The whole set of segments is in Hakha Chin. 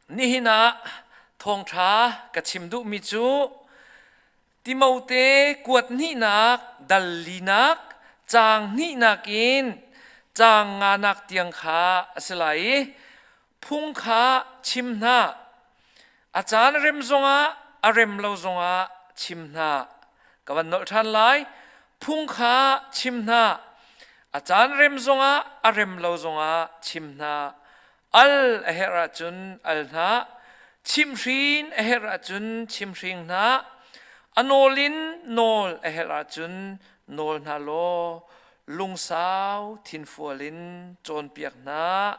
Nihin ah thawngṭha ka chim duhmi cu Timote kuat hnihnak dal linak caang hnihnak in caang nganak tiang kha a si lai i phung kha chim hna. A caan a rem zongah a rem lo zongah chim hna. Ka van nolh ṭhan lai. Phung kha chim hna. A caan rem zongah a rem lo zongah chim hna. al a herh ahcun al hna chimhrin a herh ahcun chimhring hna a nawl in nawl a herh ahcun nawl hna law lungsau thinfual in cawnpiak hna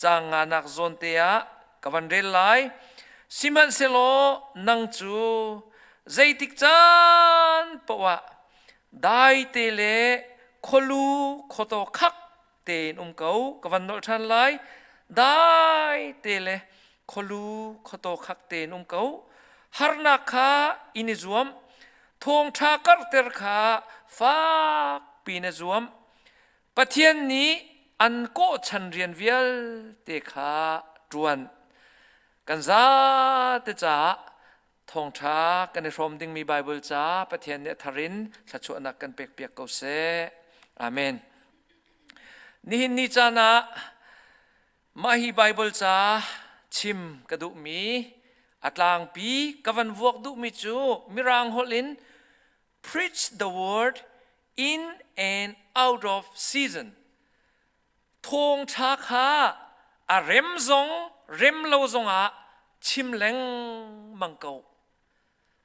caang nganak zawnte ah ka van rel lai sihmanhsehlaw nang cu zeitik caan poah daite le khualu khuataw khak tein um ko ka van nolh ṭhan lai dai te le kholu khoto khak tein um ko harnak kha in i zuam thawngṭha karhter kha fak piin i zuam pathian nih an kawh chan rian vialte kha ṭuan kan zate caah Thawngṭha kan i hrawm dingmi Baibal ca Pathian nih a thar in thluachuahnak kan pekpiak ko seh. Amen. Nihin ni caan ah mah hi Baibal ca chim ka duhmi a tlangpi ka van vuak duhmi cu Mirang holh in preach the word in and out of season thawngṭha kha a rem zong rem lo zongah chim lengmang ko.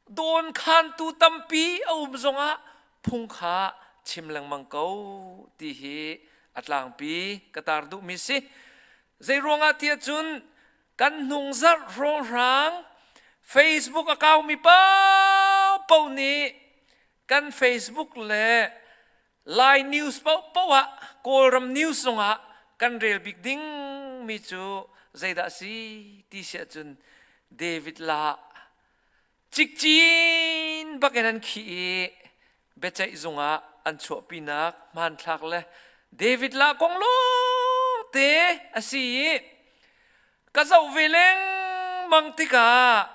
Dawnkhantu tampi a um zongah phung kha chim lengmang ko ti hi a tlangpi ka tar duhmi si. Zei ruangah tiah cun kan hnungzarh rawhrang Facebook account mi pao nih kan Facebook le Lai news paohpaoh ah Kawlram news zongah kan rel bik ding mi cu zeidah si ti si ahcun David La cikcin bakin an khih i biaceih zungah an chuahpinak hmanthlak le David La kong lawngte a si i ka zoh ve lengmang tikah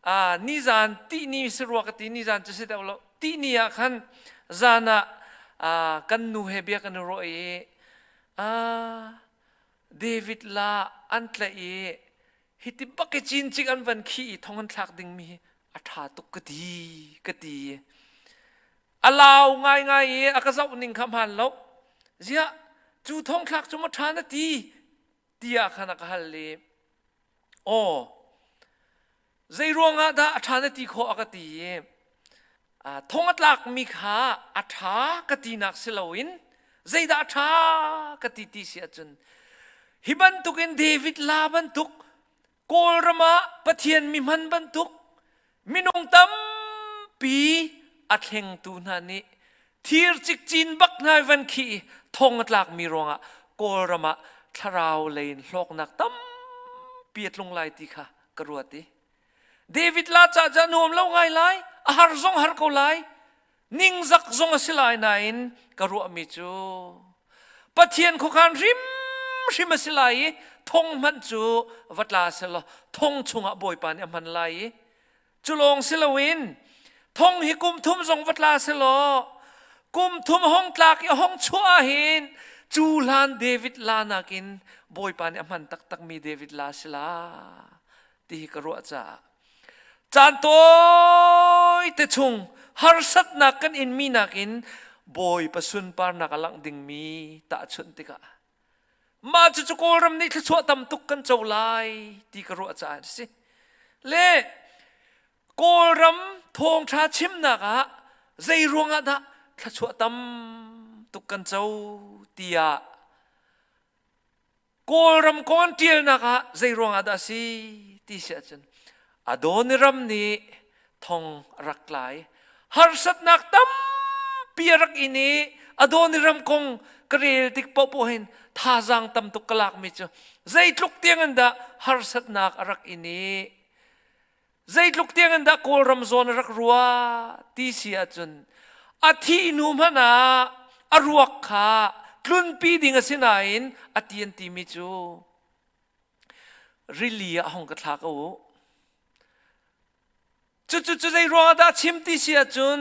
ah nizan tihni si rua ka ti nizan cu si deuh lo tihni ah khan zan ah kan nu he bia kan i ruah i David la an tlaih i hiti bak i cin cik an van khi i thong an thlak dingmi hi a ṭha tuk ka ti ka ti a lau ngaingai i a ka zoh ning kha hmaan lo ziah cu thong thlak cu ma ṭha na ti tiah khan a ka hal i aw zei ruangah dah a ṭha na ti khawh a ka ti i thong a tlakmi kha a ṭha ka tinak si loin zeidah a ṭha ka ti ti si ahcun hi bantukin David la bantuk Kawlram ah Pathian mi hman bantuk minung tampi a thlengtu hna nih thir cikcin bak ngai van khi thong a tlakmi ruangah Kawlram ah thlarau lei in hlawknak tampi a tlung lai ti kha ka ruat i David la cah cu a nuam lo ngai lai a har zong har ko lai ningzak zong a si lai nain ka ruahmi cu Pathian khuakhan hrimhrim a si lai i thong hmanh cu va tla selaw thong chungah Bawipa nih a hman lai i cu lawng si loin thong hi kum thum zong va tla selaw kum thum hong tlak i hong chuah ahhin cu hlan David la nakin Bawipa nih a hman taktakmi David la sila ti hi ka ruah caah caan tawite chung harsatnak kan inmi nakin bawipa sunparnak a langh dingmi tahchunh tikah mah cucu kawlram nih thluachuah tam tuk kan co lai ti ka ruah caah si le kawlram thawngtha chimnak ah zei ruangah dah thluachuah tam tuk kan co tiah Kawlram kawn ṭialnak ah zeiruangah dah a si ti si ahcun Adoniram nih thong a rak tlai. Harsatnak tampi a rak in i Adoniram kong ka rel tik paohpaoh hin thazaang tam tuk ka lakmi cu zeitluk tiang in dah harsatnak a rak in i zeitluk tiang in dah Kawlram zawn a rak rua ti si ahcun a thih hnu hmanh ah a ruak kha tlunpi ding a si nain a ti an timi cu rili ah hong ka thla ko u cucu cu zei ruang ah dah chim ti si ahcun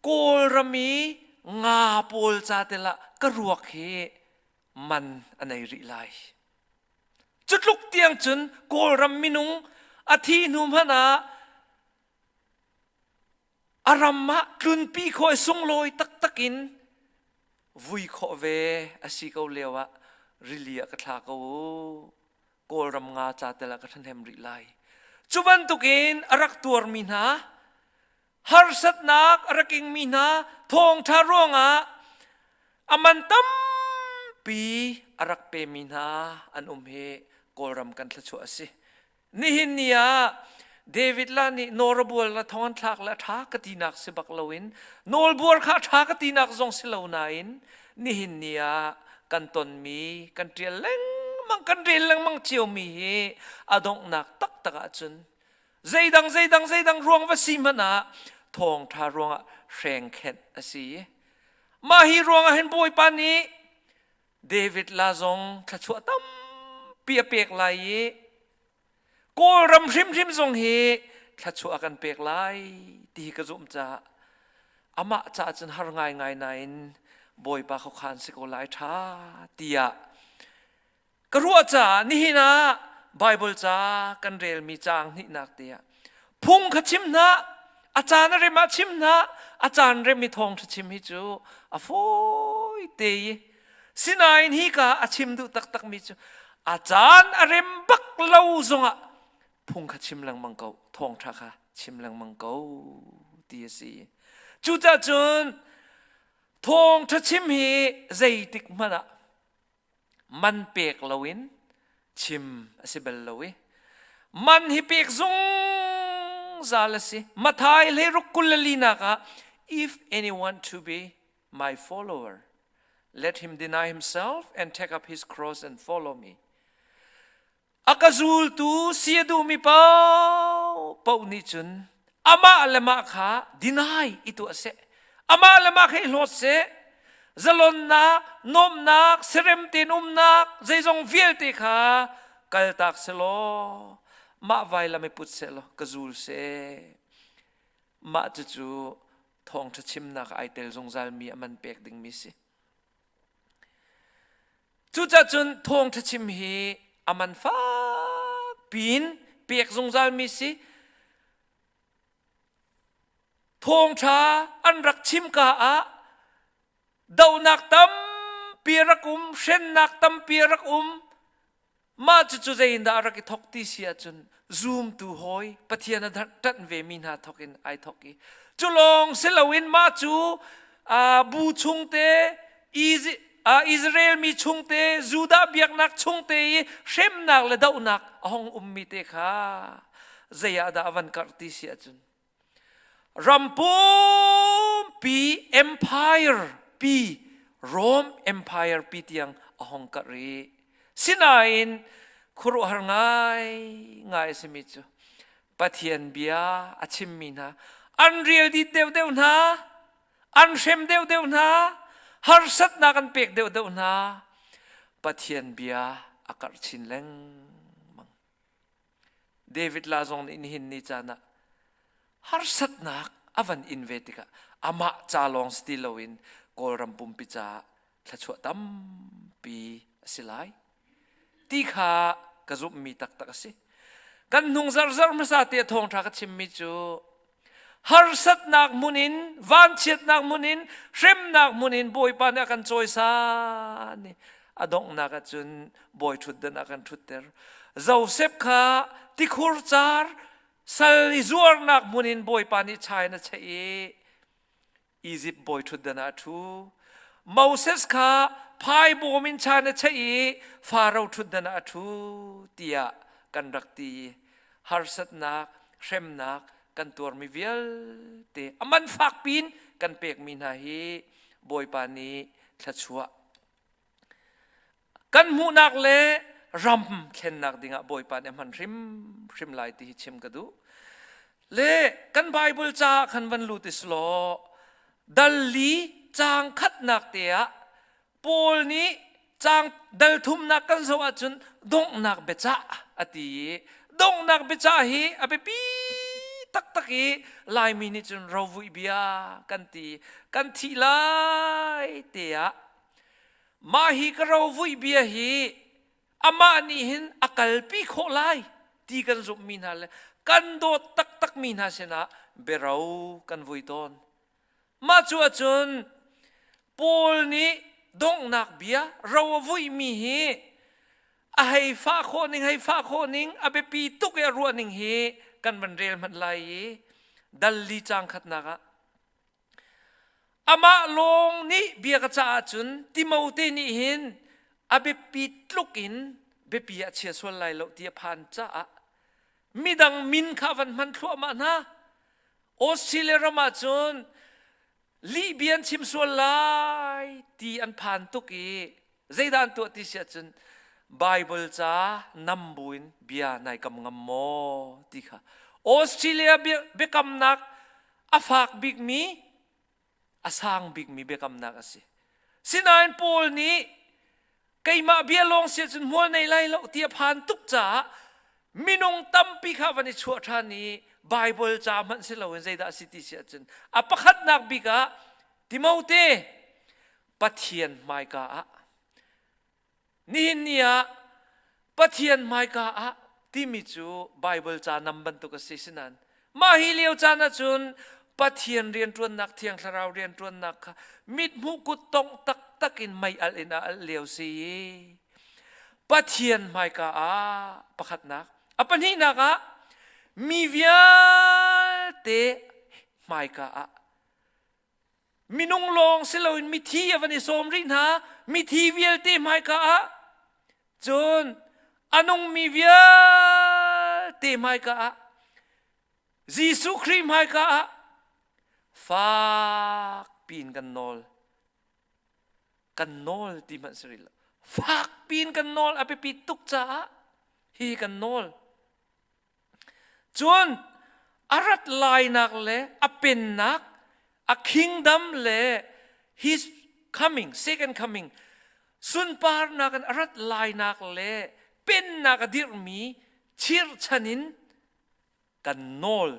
Kawlram i nga pawl ca telah ka ruak hi man a nei rih lai Cutluk tiang cun Kawlram minung a thi hnu hmanh ah a ram ah tlunpi khaw i sunglawi taktak in vui khawh ve a si ko lio ah rili ah ka thla ko u kawlram nga ca tel ah ka ṭhahnem rih lai cu bantukin a rak tuarmi hna harsatnak a rak ingmi hna thawngṭha ruangah a man tampi a rak pemi hna an um hi Kawlram kan thluachuah a si. Nihin ni ah David la nih nawlbual la thong an thlak le ṭha ka tinak si bak loin nawlbual kha ṭha ka tinak zong si lo nain nihin ni ah kan tonmi kan ṭial lengmang kan rel lengmang ciomi hi a donghnak taktak ahcun Zeidang zeidang zeidang ruang va si hmanh ah thawngṭha ruangah hrengkhenh a si. Mah hi ruangah hin Bawipa nih David la zong thluachuah tampi a pek lai i Kawlram hrimhrim zong hi thluachuah a kan pek lai ti hi ka zumh caah amah caah cun har ngaingai nain Bawipa khuakhan si ko lai ṭha tiah ka ruah caah nihin ah Baibal ca kan relmi caang hnihnak te ah phung kha chim hna a caan a rem ah chim hna a caan rem i thawngṭha chim hi cu a fawi te i sinain hi ka a chim duh taktakmi cu a caan a rem bak lo zongah phung kha chim lengmang ko thawngṭha kha chim lengmang ko ti a si cucahcun thawngṭha chim hi zeitik hmanh ah man pek loin chim a si bal lo i man hi pek zungzal a si mathai hleiruk kulalinak ah if anyone to be my follower let him deny himself and take up his cross and follow me a ka zultu si a duhmi paoh nih cun amah le mah kha dinai i tuah seh amah le mah kha i hlawt seh zalonnak nuamhnak serem tein umnak zeizong vialte kha kaltak selaw mah vailam i put sehlaw ka zul seh mah cucu thawngṭha chimnak ai tel zungzalmi a man pek dingmi si Cucah cun thawngṭha chim hi a man fak piin pek zungzalmi si. Thawngṭha an rak chimka ah donak tampi rak um, hrennak tampi rak um, Mah cucu zeiindah a rak i thawk ti si ahcun zumtu hawi Pathian a ṭanh vemi hna thawkin ai thawk i cu lawng si loin mah cu bu chungte Israel mi chungte Judah biaknak chungte i hremnak le dohnak a hung ummi te kha zei ah dah a van karh ti si ahcun Ram pumpi empire pi Rome Empire pi tiang a hong karh rih. Sinain khuaruahhar ngai ngai a simi cu Pathian bia a chimmi hna an rial dit deuhdeuh hna, an hrem deuhdeuh hna, harsatnak an pek deuhdeuh hna. Pathian bia a karh chin lengmang. David la zong nih nihin ni caan ah harsatnak a van in ve tikah amah ca lawng si ti loin Kawlram pumpi caah thluachuah tampi a si lai. Ti kha ka zumhmi taktak a si. Kan hnung zarzar hmasa te a thawngṭha ka chimmi cu harsatnak hmun in vanchiatnak hmun in hremnak hmun in bawipa nih a kan cawisan i a donghnak ah cun bawi ṭhutdan a kan ṭhutter Josef kha tikhur car sal i zuarnak hmun in bawipa nih chai in a cheih i Egypt bawi ṭhutdan ah a ṭhu. Moses kha phaibawm in chan a cheih i Pharaoh ṭhutdan ah a ṭhu tiah kan rak ti. Harsatnak, hremnak kan tuarmi vialte a man fakpi in kan pekmi hna hi Bawipa nih thluachuah kan hmuhnak le ram thlennak dingah Bawipa nih a hman hrimhrim lai ti hi chim ka duh le kan Bible ca khan van lut is law dali cang khatnak te ah Paul nih cang dal thumnak kan zoh ahcun donghnak biacah a ti i donghnak biacah hi a biapi taktak i Laimi nih cun rovuih bia kan ti kan thih lai te ah Mah hi ka rovuih bia hi amah nih hin a kalpi khawh lai ti kan zumhmi hna le kan dawt taktakmi hna sinah biaro kan vui tawn. Mah cu ahcun Paul nih donghnak bia ro a vuihmi hi a hei fah khawh ning hei fah khawh ning a biapi tuk i a ruah ning hi kan van rel hmanh lai i dal li cang khatnak ah Amah lawng nih bia ka caah cun Timote nih hin a biapi tluk in biapi a chia sual lai lo ti a phan caah midang min kha a van hman thluahmah hna. Australia ram ah cun lihbia an chim sual lai ti an phan tuk i zeidah an tuah ti si ahcun Baibal ca nam buin bia nai kam ngam maw ti kha Australia biakamnak a fak bikmi a sang bikmi biakamnak a si sinain Paul nih keimah bia lawng si cun hmual nei lai lo ti a phan tuk caah minung tampi kha van i chuah ṭhan i Baibal ca hmanh si loin zeidah a si ti si ahcun a pakhatnak bik ah Timote Pathian hmaika ah nihin ni ah Pathian hmaika ah timi cu Baibal ca nam bantuk a si sinan mah hi lio caan ahcun Pathian rianṭuannak thiang thlarau rianṭuannak kha mithmuh kut tong taktak in mei alh in a alh lio si i Pathian hmaika ah pakhatnak a pahnihnak ah mi vialte hmaika ah minung lawng si loin mithi a van i sawm rih hna mithi vialte hmaika ah cun a nungmi vialte hmaika ah Jesuh Khrih hmaika ah fak piin kan nawl kan nawl ti hmanh si rih lo fak piin kan nawl a biapi tuk caah hi kan nawl cun a rat lainak le a pennak a kingdom le his coming second coming sunparnak in a rat lainak le pennak a dirhmi chirchan in kan nawl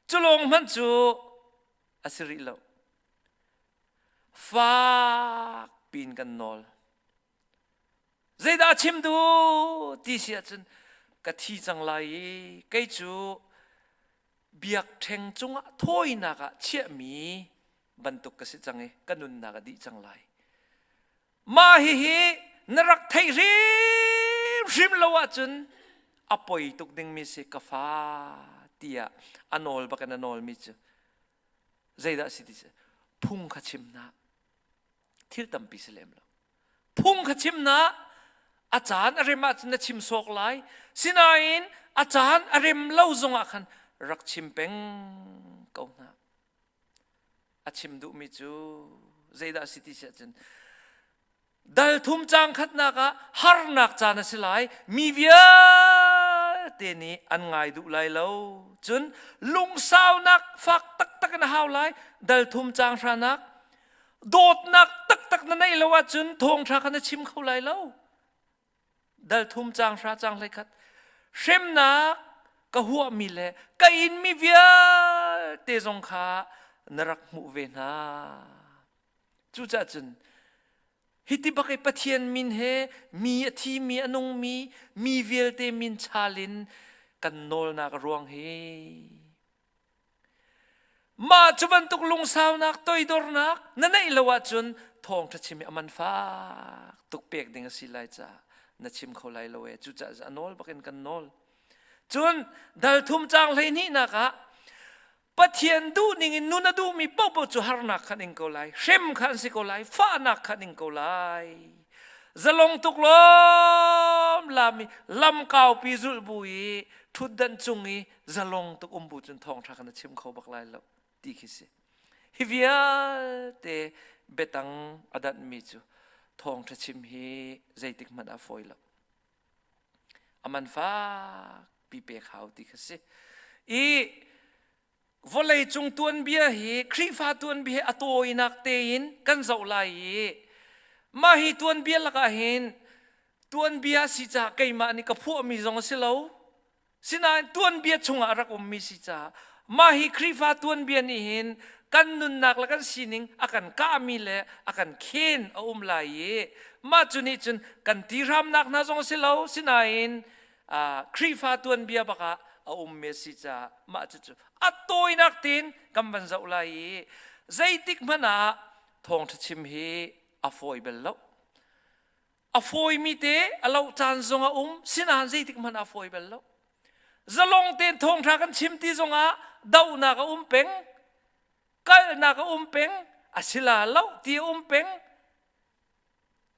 cu lawng hmanh cu a si rih lo fak pin kan nawl Zeidah chim duh ti si ahcun ka thi cang lai i kei cu biakṭheng cungah thawinak ah chiahmi bantuk ka si cang i ka nunnak a dih cang lai. Mah hihi na rak theih hrimhrim lo ahcun a poi tuk dingmi si ka fa tiah a nawl bak in a nawlmi cu zeidah a si ti cu phung kha chim hna. thil tampi si lem lo. Phung kha chim na a caan a rem ahcun na chim sawk lai. Sinain a caan a rem lo zongah khan rak chim peng ko hna. A chim duhmi cu zeidah a si ti si ahcun dal thum cang khatnak ah harnak caan a si lai mi vialte nih an ngai duh lai lo cun lungsaunak fak taktak in a hau lai dal thum cang hranak dawtnak taktak na neih lo ahcun thawngṭha kha na chim kho lai lo dal thum cang hra cang hlei khat hremnak ka huahmi le ka inmi vialte zong kha na rak hmuh ve hna cucah cun hiti bakai pathian min he mi a thi mi a nung mi mi vialte min chalin kan nawlnak ruang hi Mah cu bantuk lungsaunak toidornak na neih lo ahcun thawngṭha chim hi a man fak tuk pek ding a si lai caah na chim kho lai lo ee. Cucaah a nawl bakin kan nawl. Cun dalthum caang hleihnihnak ah Pathian duhning in nun a duhmi paohpaoh cu harnak khan ing ko lai, hrem kha an si ko lai, fahnak khan ing ko lai. Zalong tuk lawm lami lamkaupi zulh bu i ṭhutdanh cung i zalong tuk um bu cun thawng tha kan chim kho bak lai lo ti khi si hi vialte betang adat mi cu thawng tha chim hi zeitik hmanh a foi lo aman fak pi pe khau ti khi si i vawlei cung tuan bia hi khrifa tuan bia a tawinak te in kan zoh lai i mah hi tuan bia lakah hin tuan bia si ca keimah nih ka phuah mi zong a si lo Sinain tuanbia chungah rak ummi si caah mah hi Khrihfa tuanbia nih hin kan nunnak le kan sining a kan kahmi le a kan khen a um lai i mah cu nih cun kan ti hramnak hna zong a si lo sinain Khrihfa tuanbia bakah a ummi a si caah mah cucu a tawinak tein kan van zoh lai i zeitik hmanh ah thawngṭha chim hi a fawi bel lo. A fawimi te a loh caan zong a um, sinain zeitik hmanh ah fawi bal lo. Zalong tein thawngṭha kan chim ti zongah dohnak a um peng, kalnak a um peng, a sila loh ti a um peng.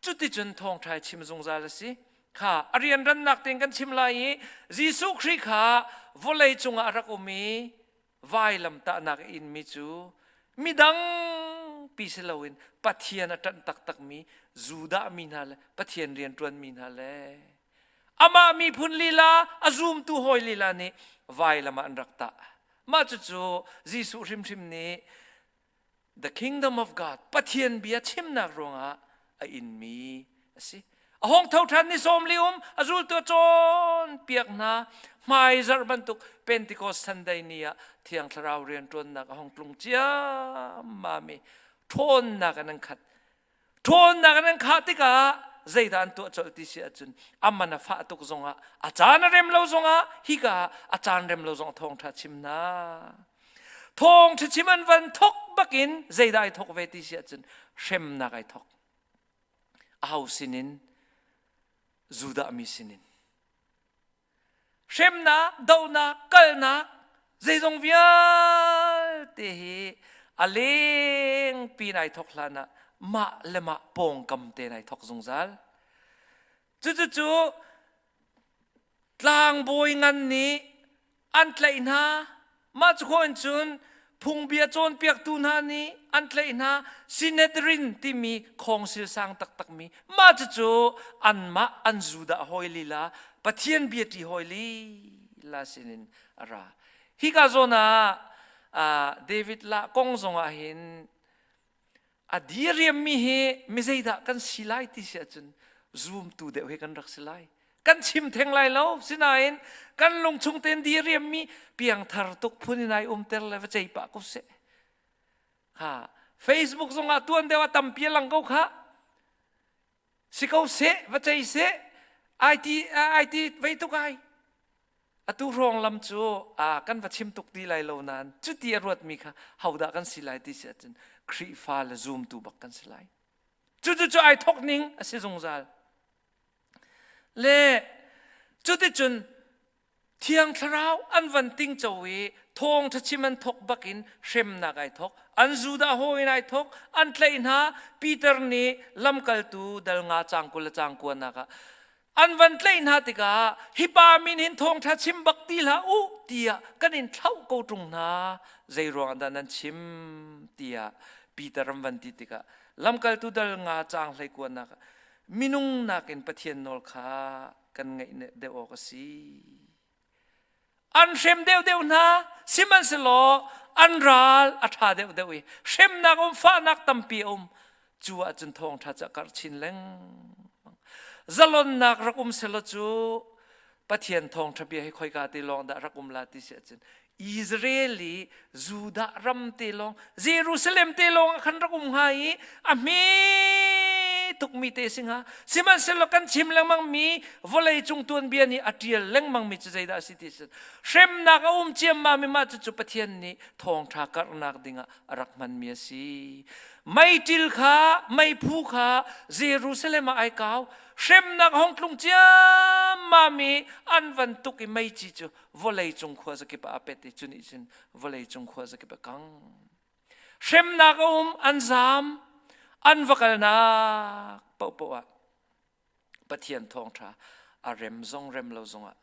Cuticun thawngṭha chim zungzal a si. Kha a rianrannak tein kan chim lai i Jesuh Khrih kha vawlei cungah a rak um i vailamtahnak a inmi cu midangpi si loin Pathian a ṭanh taktakmi Judah mi hna le Pathian rianṭuanmi hna le amah miphun lila a zumtu hawi lila nih vailam ah an rak tah. Mah cucu Jesuh hrimhrim nih The kingdom of God, Pathian bia chimnak ruangah a inmi a si. A hong tho ṭhan ni sawm li um, a zultu a cawn piak hna, hmai zarh bantuk Pentecost Sunday ni ah Thiang Thlarau rianṭuannak a hong tlung ciammam i ṭhawnnak an khat. Ṭhawnnak in an khah tikah zeidah an tuah colh ti si ahcun a man a fah tuk zongah a caan a rem lo zongah hika a caan rem lo zong thawngṭha chim hna. Thawngṭha chim an van thok bakin zeidah ai thok ve ti si ahcun hremnak ai thok. A ho sinin, Judah mi sinin. hremnak dohnak kalnak zeizong vialte hi a leng pi nai thok hlan ah mah le mah pawngkam te nai thok zungzal cucucu tlangbawi ngan nih an tlaih hna Mah cu in cun phungbia cawnpiaktu hna nih an tlaih hna. Synedrin timi khawngsil sang taktakmi mah cucu anmah an Judah hawi lila Pathian biaṭi hawi lila sinin a ra. Hika zawn ah David lah kong zongah hin a diriammi hi mi zeidah kan si lai ti si ahcun zumtu deuh he kan rak si lai kan chim theng lai lo sinain kan lungchung tein diriammi piangthar tuk phun in ai umter le va cei pah ko seh ha facebook zongah tuan deuh a tampi a lang ko kha si ko seh va cei seh ai ti ai ti vei tuk ai atu hrawng lam cu a kan va chim tuk ti lai lo nain cuti a ruatmi kha hodah kan si lai ti si ahcun Khrihfa le zumtu bak kan si lai cucu ai thok ning a si zungzal le cuticun Thiang Thlarau an van tingco i thawngtha chim an thok bakin hremnak ai thok. An Judah hawiin ai thok. An tlaih hna. Peter nih lamkaltu dal nga cangkul le cangkuanak ah an van tlaih hna tikah hi pa min hin thawngtha chim bak ti hlah u tiah kan in thlauh ko ṭung hna. Zei ruang dah nan chim tiah Peter an van ti tikah lamkaltu dal nga cang hlei kuanak minung nakin Pathian nawl kha kan ngeih deuh awk a si. An hrem deuhdeuh hna, sihmanhsehlaw an ral a ṭha deuhdeuh i hremnak um, fahnak tampi a um. Cu ahcun thawngṭha cu a karh chin lengmang. Zalonnak rak um selaw cu Pathian thawngṭha bia hi khoika te lawng dah rak um la ti si ahcun Israel i Judah ram te lawng Jerusalem te lawng ah khan rak um hnga i a hme tukmi te singa sihmanhsehlaw kan chim lengmang mi vawlei cung tuanbia nih a ṭial lengmang mi cu zeidah a si ti sin hremnak a um ciammam mi mah cucu Pathian nih thawngṭha karhnak dingah a rak hmanmi a si meiṭil kha meiphu kha Jerusalem ah ai kau hremnak hong tlung ciammam i an van tuk i meici cu vawleicung khua zakip ah a pet i cu nih cun vawleicung khua zakip a kang hremnak a um an zaam an va kalnak pohpoh ah pathian thawngṭha a rem zong rem lo zongah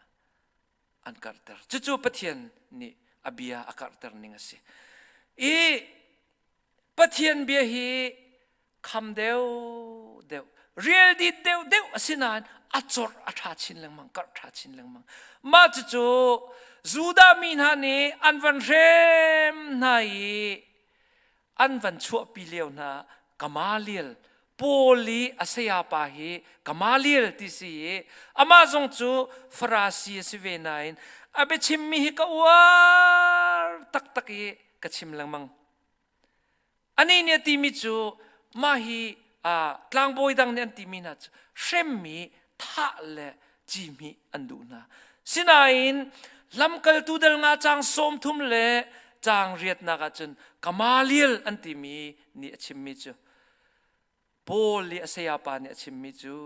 an karhter cucu pathian nih a bia a karhter ning a si i pathian bia hi kham deuh deuh rial dit deuh deuh a si nain a cor a ṭha chin lengmang karh ṭha chin lengmang mah cucu Judah mi hna nih an van hrem hna i an van chuahpi lio hna Gamaliel Paul i a sayapa hi Gamaliel ti si i amah zong cu Farasi a si ve nain a biachimmi hi ka uar taktak i ka chim lengmang Anih nih a timi cu mah hi tlangbawi dang nih an timi hna cu hremmi thah le cihmih an duh hna. Sinain lamkaltu dal nga caang sawm thum le caang riatnak ah cun Gamaliel an timi nih a chimmi cu Paul nih a sayapa nih a chimmi cu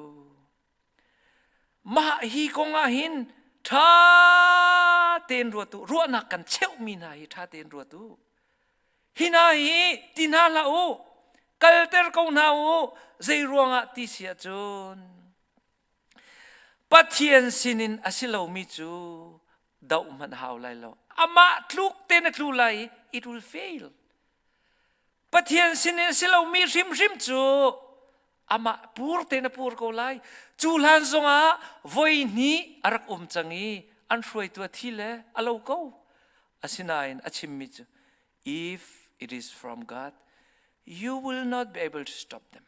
mah hi kong ah hin ṭha tein ruat u ruahnak kan cheuhmi hna hi ṭha tein ruat u hi hna hi ti hna hlah u kalter ko hna u zei ruangah ti si ahcun Pathian sinin a si lomi cu doh hmanh hau lai lo amah tluk te na tlu lai i it will fail Pathian sinin si lomi hrimhrim cu amah pur te na pur ko lai. Cu hlan zongah voi hnih a rak um cang i an hruaitu a thi le a lo ko. Asinain a chimmi cu, If it is from God, you will not be able to stop them.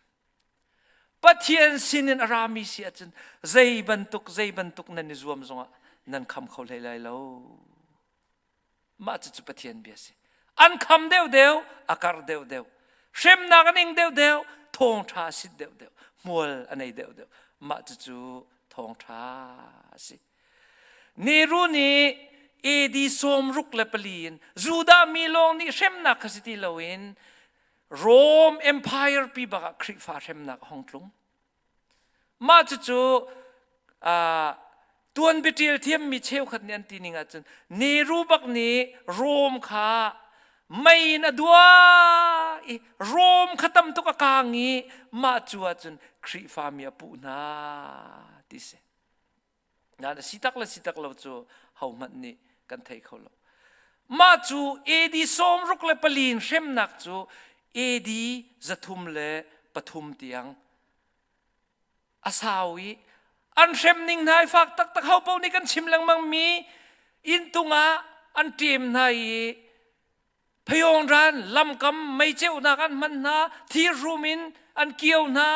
Pathian sinin a rami si ahcun zei bantuk zei bantuk nan i zuam zongah nan kham kho hlei lai lo. mah cucu Pathian bia a si an kham deuhdeu a kar deuhdeu hremnak a ning deuhdeu thawngṭha a sit deuhdeu hmual a nei deuhdeu mah cucu thawngṭha a si Neru nih AD sawm ruk le pali in Judah mi lawng nih hremnak kha si ti loin Rome Empire pi bakah Khrihfa hremnak a hong tlung Mah cucu tuanbiṭial thiammi cheukhat nih an ti ning ahcun Neru bak nih Rome kha mei in a dua i Rome kha tam tuk a kaang i mah cu ahcun Khrihfami a puh hna ti si. Nain si tak le si tak lo cu hohmanh nih kan thei kho lo. Mah cu AD sawm ruk le pali in hremnak cu AD zathum le pathum tiang a sau i an hrem ning hna i fak taktak ho paoh nih kan chim lengmang mi inntung ah an ṭem hna i phayongran lamkam meiceonak an hman hna thirhrum in an kio hna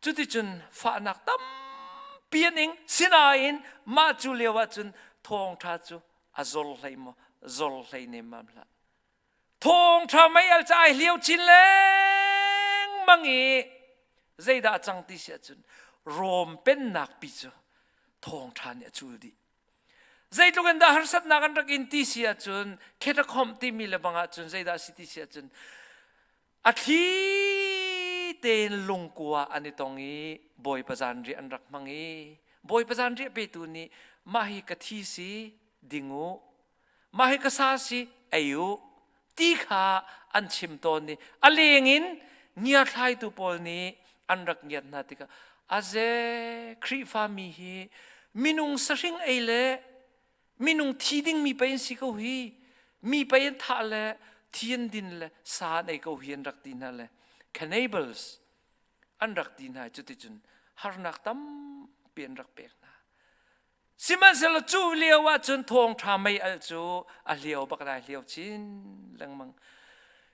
cuticun fahnak tampi an ing sinain mah cu lio ahcun thawngṭha cu a zor hlei maw zor hlei nemmam hlah thawngṭha mei al ca ai hliau chin lengmang i zeidah a cang ti si ahcun rom pennak pi cu thawngṭha nih a cul dih zeitluk in dah harsatnak an rak in ti si ahcun khetakhom timi lebang ahcun zeidah a si ti si ahcun a thli tein lungkua an i tong i bawipa zanriah an rak hmang i bawipa zanriah petu nih mah hi ka thi si ding u mah hi ka sa si ei u ti kha an chim tawn i a leng in ngiathlaitu pawl nih an rak ngiat hna tikah aze khrihfa mi hi minung sahring ei le minung thi dingmi pei an si ko hi mi pei an thah le thi an din le sa an ei ko hi an rak ti hna le cannibals an rak ti hna cuticun harnak tampi an rak pek hna sihmanhsehlaw cu lio ahcun thawngṭha mei al cu a hliau bak dai hliau chin lengmang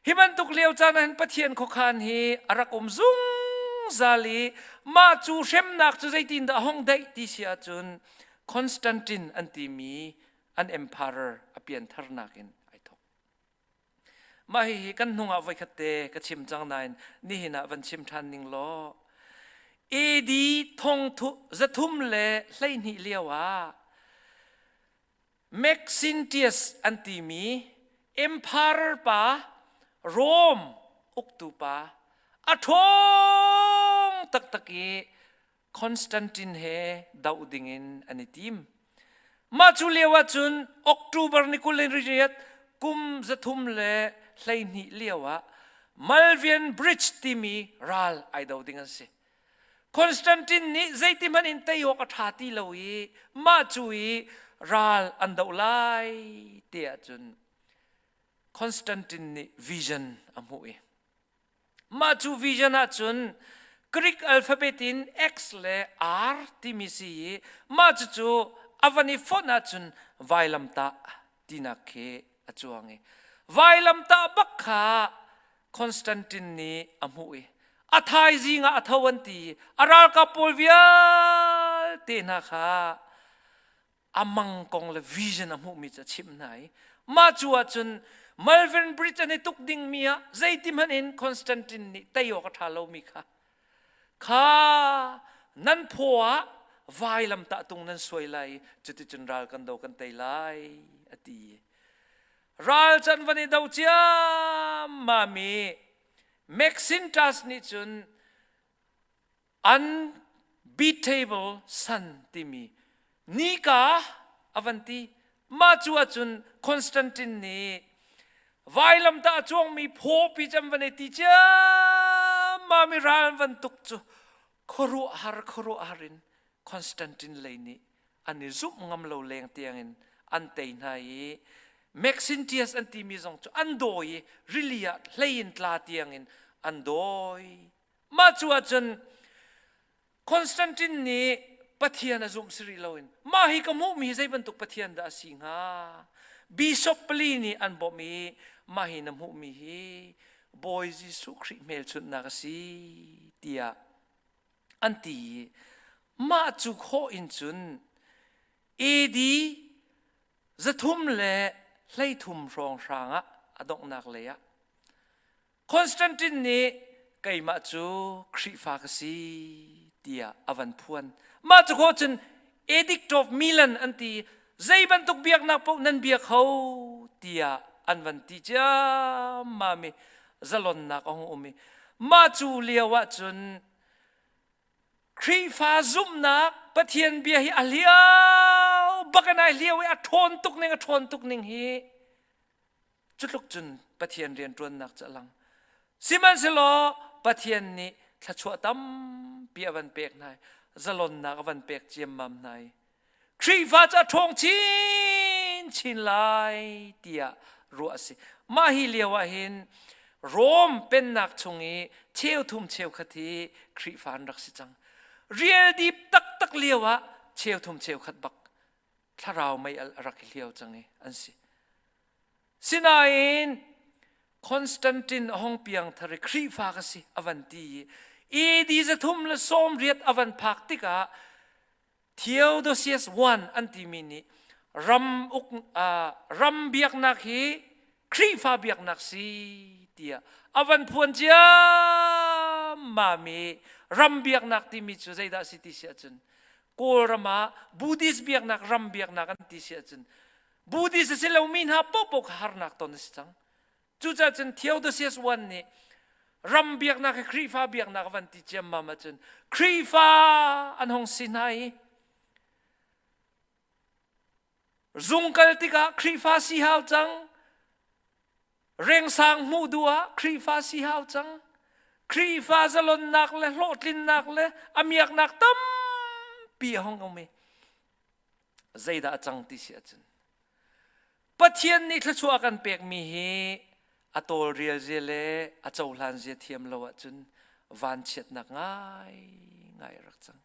Hi bantuk lio caan ah hin Pathian khuakhan hi a rak um zungzal i mah cu hremnak cu zeitindah a hong daih ti si ahcun Constantine an timi an emperor a piantharnak in ai thawk. Mah hihi kan hnungah voikhat te ka chim cang nain nihin ah van chim ṭhan ning law AD thongthu zathum le hleihnih lio ah Maxentius an timi emperor pa, Rome uktu pa, a ṭhawng taktak i Constantine he doh dingin an i tim. Mah cu lio ahcun October ni kul in riat kum zathum le hleihnih lio ah Malvian Bridge timi ral ai do ding an si. Constantine nih zeitihmanh in tei awk a ṭha ti lo i mah cu i ral an doh lai ti ahcun Constantine nih vision a hmuh i mah cu vision ahcun Greek alphabet in X le R timi si i mah cucu a van i fonh ahcun vailamtah tinak khi a cuang i vailamtah bak kha Constantine nih a hmuh i a thaizing ah a tho an ti a ralkap pawl vialte hna kha a mang kong le vision a hmuhmi cu a chimh hna i mah cu ahcun Malvern Bridge an i tuk dingmi ah zeitin hmanh in Constantine nih tei awk a ṭha lomi kha kha nan phaw ah vailam tah tung nan suai lai cuticun ral kan do kan tei lai a ti ral can van i do ciam mami Macintosh nih cun unbeatable sun timi nika avan ti Mah cu ahcun Constantine nih vailamtah a cuangmi phawpi cu an van i ti ciammam i ral van tuk cu khuaruahhar khuaruahhar in Constantine lei nih an i zumh ngam lo leng tiangin an tei hna i Maxentius an timi zong cu an dawi i rili ah hlei in tla tiangin an dawi. Mah cu ahcun Constantine nih Pathian a zumh si rih loin mah hi ka hmuhmi hi zei bantuk Pathian dah a si hnga? Bishop pali nih an bawmh i mah hi na hmuhmi hi Bawi Jesuh Khrih hmelchunhnak a si tiah an ti i mah cu khawh in cun AD zathum le hleithum hrawng hrang ah a donghnak lei ah Constantine nih keimah cu Khrihfa ka si tiah a van phuan. Mah cu khawh cun Edict of Milan an ti i zei bantuk biaknak paoh nan biak ho tiah an van ti ciammam i zalonnak a hung um i mah cu lio ah cun Khrihfa zumhnak Pathian bia hi a hliau bak in ai hliau i a ṭhawn tuk ning a ṭhawn tuk ning hi Cutluk cun Pathian rianṭuannak cu a lang. Sihmanhsehlaw Pathian nih thluachuah tampi a van pek hna i zalonnak a van pek ciammam hna i Khrihfa cu a ṭhawng chinchin lai tiah ruah a si. Mah hi lio ah hin Rom pennak chung i cheu thum cheu khat hi Khrihfa an rak si cang. Rial dip taktak lio ah cheu thum cheu khat bak thlarau mei al a rak i hliau cang i an si. Sinain Constantine a hong piang thar i Khrihfa ka si a van ti i AD zathum le som riat a van phak tikah Theodosius I an timi nih ram uk, uh, ram biaknak hi Khrihfa biaknak si tiah a van phuan ciammam i ram biaknak timi cu zeidah si ti si ahcun Kawlram ah Buddhist biaknak ram biaknak an ti si ahcun Buddhist a si lomi hna paohpaoh kha harnak ton a si cang cucaah cun Theodosius I nih ram biaknak hi Khrihfa biaknak van ti ciammam ahcun Khrihfa an hong si hna i Zung kal tikah Khrihfa si hau cang. Rengsang hmuh duh ah Khrihfa si hau cang. Khrihfa zalonnak le hlawhtlinnak le a miaknak tampi a hong um i zeidah a cang ti si ahcun Pathian nih thluachuah kan pekmi hi a tawlrial zia le a cohlan zia thiam lo ahcun vanchiatnak ngaingai a rak cang.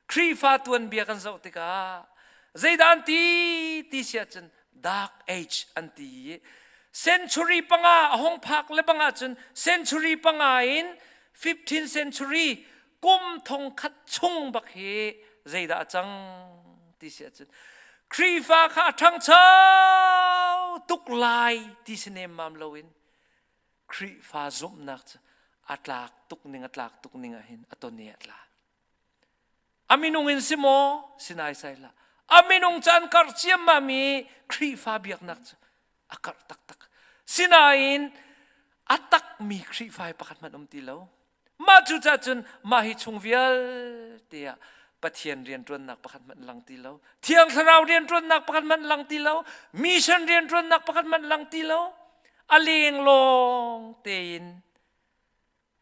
Khrihfa tuanbia kan zoh tikah zeidah an ti ti si ahcun dark age an ti i century panga a hong phak le bang ahcun century panga in 15th century kum thong khat chung bak hi zeidah a cang ti si ahcun Khrihfa kha a ṭhangcho tuk lai ti si nem mam loin Khrihfa zumhnak cu a tlak tuk ning a tlak tuk ning ahhin a ton i a tla. A minung in si maw si nai sai hlah. A minung cu an karh ciammam i Khrihfa biaknak cu a karh taktak. Sinain a takmi Khrihfa hi pakhat hmanh um ti lo. mah cucah cun mah hi chung vialte ah Pathian rianṭuannak pakhat hmanh lang ti lo Thiang Thlarau rianṭuannak pakhat hmanh lang ti lo mission rianṭuannak pakhat hmanh lang ti lo a lenglawng tein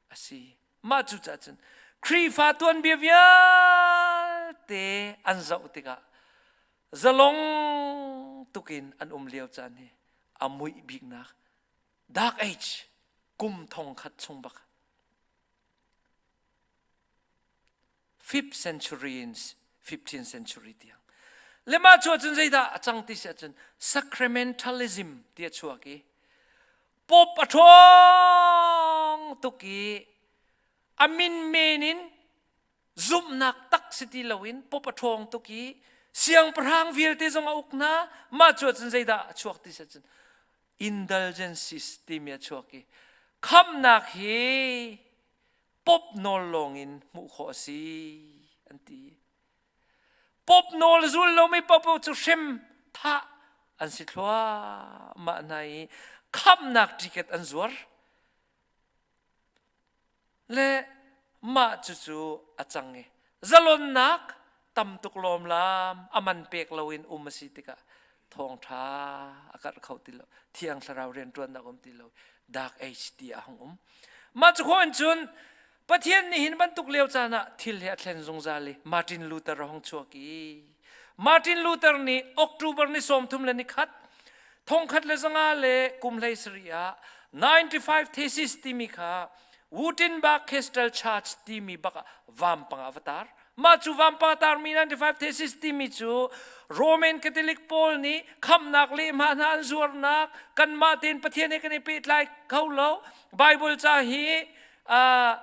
a si mah cucah cun Khrihfa tuanbia vialte an zoh tikah zalong tukin an um lio caan hi a muih biknak dark age kum thong khat chung bak fifth century in 15th century tiang le mah chu cun zeidah a cang ti si ahcun sacramentalism ti a chuak i pop a ṭhawng tuk i a min men in zumhnak tak si ti loin pop a ṭhawng tuk i siangpahrang vialte zong a uk hna mah cu cun zeidah a chuak ti si ahcun indulgences timi a chuak i khamnak hi pop nawl lawngin hmuh khawh a si an ti pop nawl zul lomi pop cu hrem tha an si thluahmah hna i khamnak ticket an zuar le mah cucu a cang i zalonnak tam tuk lawmlam a man pek loin um a si tikah thawngṭha a karh kho ti lo thiang thlarau rianṭuannak um ti lo dark age ti a hung um mah cu khawin cun pathian nih hin bantuk lio caan ah thil he a thlen zungzal i Martin Luther a hung chuak i Martin Luther nih October ni sawmthum le ni khat thongkhat le zanga le kum hlei sari ah 95 Thesis timi kha Wurttemberg Cathedral Church timi bak ah vampanga va tar. Mah cu vampanga tarmi 95 Thesis timi cu Roman Catholic pawl nih khamnak lehma hna an zuarnak kanmah tein Pathian he kan i pehtlai kho lo. Bible ca hi uh,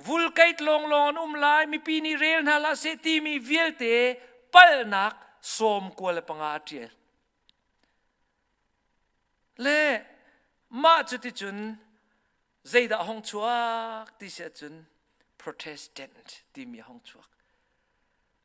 vulkait lawnglawng an um lai mipi nih rel hna la seh timi vialte palnak sawm kual le panga a ṭial le mah cu ticun zeidah hong chuak ti si ahcun protestant timi hong chuak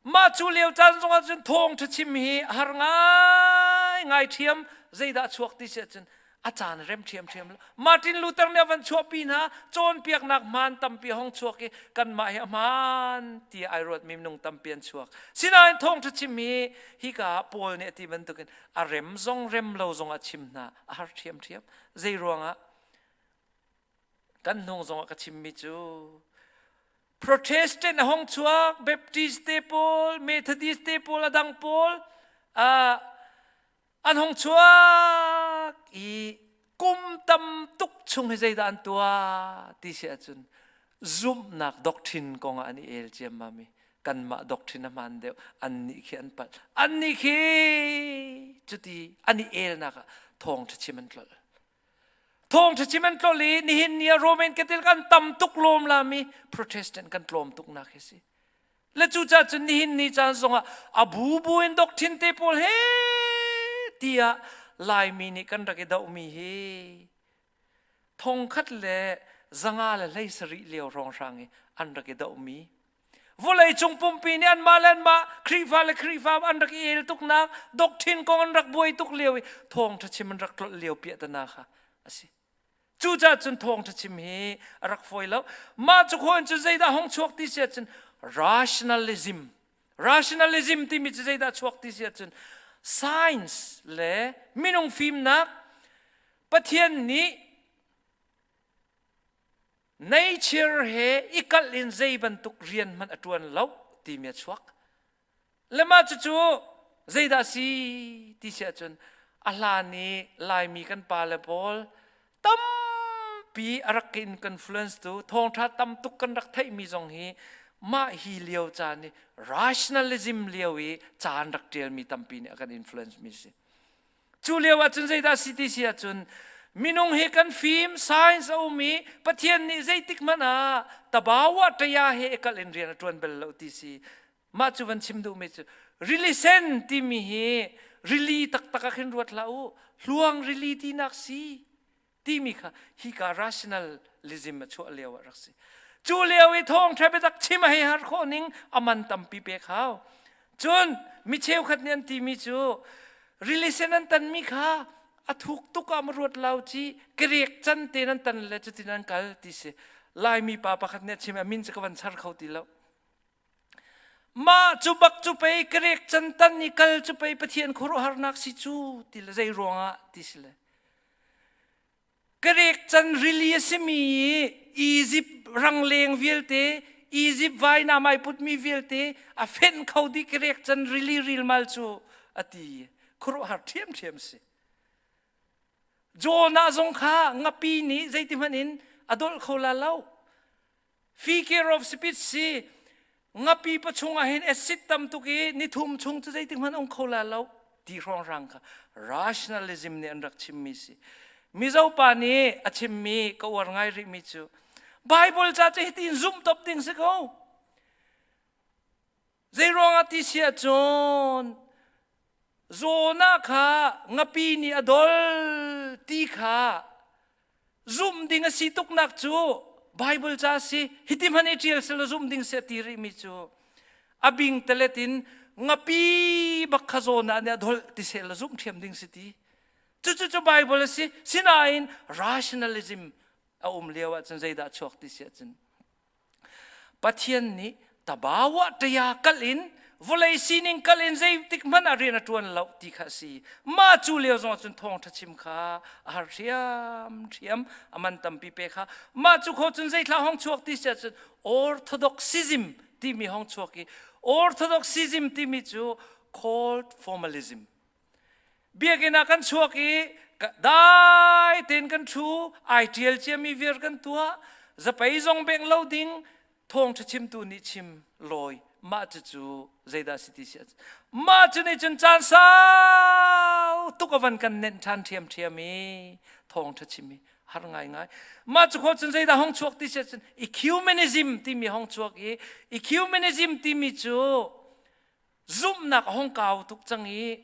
Mah cu leo caan zongah cun thawngṭha chim hi a har ngaingai ṭhiam zeidah chuak ti si ahcun a caan rem ṭhiamṭhiam Martin Luther nih a van chuahpi hna cawnpiaknak hmaan tampi a hong chuak i kanmah hi a hmaan tiah ai ruatmi minung tampi an chuak sinain thawngṭha chim hi hika ah Paul nih a ti bantukin a rem zong rem lo zongah chim hna a har ṭhiamṭhiam zei ruangah kan hnung zongah ka chimmi cu Protestant a hong chuak Baptist te pawl Methodist te pawl adang pawl uh, an hong chuak i kum tam tuk chung hi zeidah an tuah ti si ahcun zumhnak doctrine kong ah an i el ciammam i kanmah doctrine a hmaan deuh an nih khi an palh an nih khi cuti an i elnak ah thawng ṭha chim an tlolh Thawngṭha chim an tlol i nihin ni ah Roman Catholic an tam tuk lawm lami Protestant kan tlawm tuknak hi si. Le cucaah cun nihin ni caan zongah a bubu in doctrine te pawl he tiah Laimi nih kan rak i dohmi hi thongkhat le zanga le hlei sarih lio hrawnghrang i an rak i dohmi vawleicung pumpi nih anmah le anmah Khrihfa le Khrihfa an rak i el tuknak doctrine kong an rak buai tuk lio i thawngṭha chim an rak tlolh lio piahtana kha a si cucaah cun thawngṭha chim hi a rak fawi lo mah cu khoin cu zeidah hong chuak ti si cun rationalism rationalism timi cu zeidah chuak ti si cun science le minung fimnak Pathian nih Neichir he i kalh in zei bantuk rian hmanh a ṭuan lo timi a chuak. Le mah cucu zeidah si ti si ahcun a hlan i Laimi kan pa le pawl tampi a rak ka influence tu thawngṭha tam tuk kan rak theihmi zong hi mah hi lio caan i rationalism lio i caan rak ṭialmi tampi nih a kan influence mi si. Cu lio ahcun zeidah si ti si ahcun minung hi kan fim science a um i Pathian nih zeitik hmanh ah tabawa ṭaya he kal in rian a ṭuan bal lo ti si mah cu van chim duhmi cu rili sen timi hi rili taktak ah khin ruat hlah u hluang rili tinak si timi kha hika rationalism a chuah lio ah rak si cu lio i thawngṭha biatak chim a hei har khawh ning aman tampi pek hau cun mi cheukhat nih an timi cu relation an tanmi kha a thuk tuk ah ma ruat lau ci kerek can te nan tan le cutin an kal ti si laimi pa pakhat nih a chim a min cu ka van char kho ti lo mah cu bak cu pei ka rek can tan i kal cu pei pathian khuaruahharnak si cu ti le zei ruangah ti si le ka rek can rili a simi Egypt rangleng vialte Egypt vai na mai putmi vialte a fenh kho di ka rek can rili rilmal cu a ti khuaruahhar ṭhiamṭhiam si Jonah zong kha ngapi nih zeiti hmanh in a dolh kho la lo Figure of speech si ngapi pa chungah hin acid tam tuk i nithum chung cu zeitik hmanh ong kho la lo ti hrawnghrang kha rationalism nih an rak chimmi si mizo pa nih a chimmi ka uar ngai rihmi cu Bible ca cu hitin zumh top ding si ko Zeiruangah ti si ahcun Zona kha ngapi nih a dol ti kha zumh ding a si tuknak cu Bible ca si hiti hman i ṭial selaw zumh ding si a ti rihmi cu a bing telet in ngapi bak kha Zona nih a dol ti selaw zumh ṭhiam ding si ti cucucu Bible a si sinain rationalism a um lio ahcun zeidah a chuak ti si ahcun Pathian nih tabawa ṭaya kal in vawlei sining kal in zeitik hmanh ah rian a ṭuan lo ti kha a si. Mah cu lio zong cun thawngṭha chim kha a har hriam hriam. A man tampi pe kha. Mah cu kho cun zeithla hong chuak ti siah cun orthodoxism timi hong chuak i orthodoxism timi cu called formalism biakinn ah kan chuak i dai tein kan thu ai ṭial ciami viar kan tuah zapei zong bengh lo ding thawngṭha chimtu nih chim lawi mah cucu zeidah si ti si mah cu nih cun caan sau tuk a van kan nenh ṭhan ṭhiamṭhiam i thawngṭha chim hi har ngaingai mah cu kho cun zeidah hong chuak ti si cun ecumenism timi hong chuak i ecumenism timi cu zumhnak a hong kau tuk cang i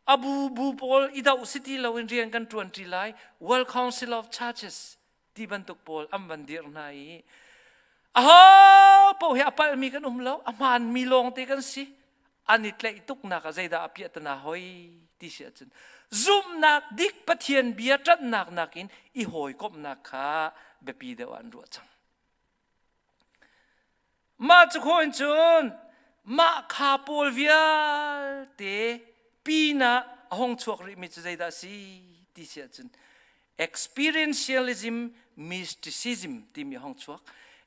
a bu bu pawl i doh si ti loin rian kan ṭuanṭi lai World Council of Churches ti bantuk pawl an van dir hna i a ho paoh hi a palhmi kan um lo a hmaanmi lawngte kan si an i tlaih tuknak ah zeidah a piah tana hoi ti si ahcun zumhnak dik pathian bia ṭanhnak nakin i hawikomhnak kha biapi deuh an ruah cang Mah cu khawn cun mah kha pawl vialte pinah a hong chuak rihmi cu zeidah a si ti si ahcun experientialism mysticism timi a hong chuak.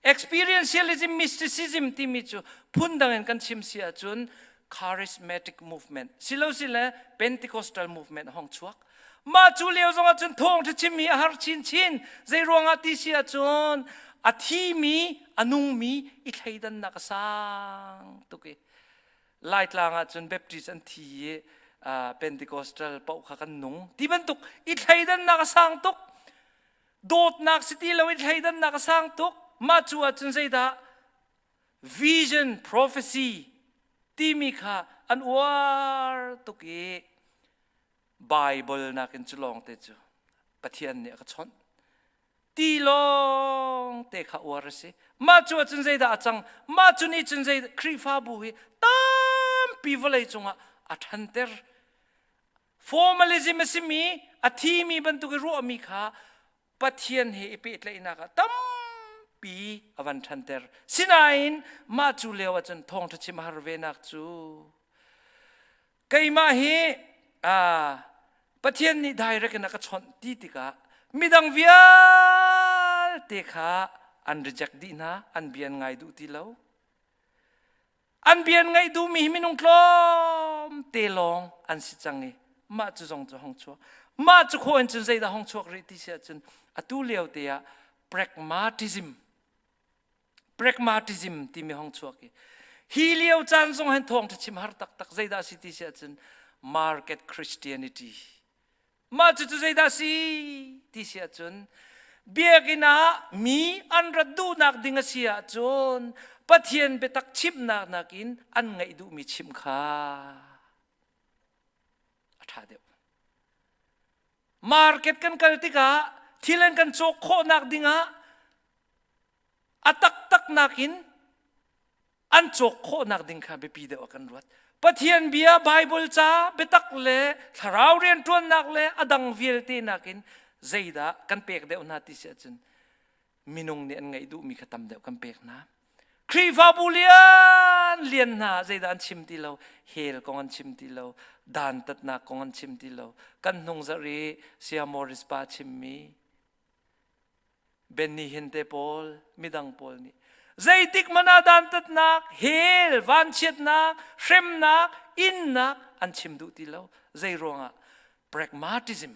Experientialism mysticism timi cu phundang in kan chim si ahcun charismatic movement silo sile Pentecostal movement a hong chuak. Mah cu lio zong ah cun thawngṭha chimmi a har chinchin. Zeiruangah ti si ahcun a thimi, a nungmi i thleidannak a sang tuk i Laitlang ah cun Baptist an thi i Pentecostal paoh kha kan nung. Ti bantuk i thleidannak a sang tuk. Dawtnak si ti lo i thleidannak a sang tuk. Mah cu ahcun zeidah? Vision prophecy timi kha an uar tuk i Baibal nakin cu lawngte cu Pathian nih a ka chawnh. Ti lawngte kha uar a si. Mah cu ahcun zeidah a cang? Mah cu nih cun zei Khrihfabu hi tampi vawlei cungah a ṭhanter. Formalism a simi, a thimi bantuk i ruahmi kha Pathian he i pehtlaihnak ah tampi a van ṭhanter. Sinain mah cu lio ahcun thawngṭha chim a har venak cu keimah hi Pathian nih direct in a ka chawnh ti tikah midang vialte kha an reject dih hna an bian ngai duh ti lo an bian ngaih duhmi hi minung tlawm te lawng an si cang i mah cu zong cu hong chuak mah cu kho in cun zeidah hong chuak rih ti si ahcun atu lio te ah pragmatism pragmatism timi hong chuak hi hi lio caan zong hen thawng chim har taktak zeidah si ti si ahcun market christianity mah cu cu zeidah si ti si ahcun biakinn ah mi an rat duhnak ding a si ahcun pathian biatak chimnak nakin an ngaih duhmi chim kha a ṭha deuh market kan kal tikah thil an kan cawk khawhnak dingah a taktaknak in an cawk khawhnak ding kha biapi deuh ah kan ruat. Pathian bia Baibal ca biatak le thlarau rianṭuannak le a dang vialte nakin zeidah kan pek deuh hna ti si ahcun minung nih an ngaih duhmi kha tam deuh kan pek hna. Khrihfabu lian lian hna zeidah an chim ti lo, hell kong an chim ti lo, dantatnak kong an chim ti lo. Kan hnung zarh i Sia Morris pa chimmi Ben nih hin te pawl midang pawl nih zeitik man ah dantatnak hell vanchiatnak hremnak innak an chim duh ti lo zei ruangah pragmatism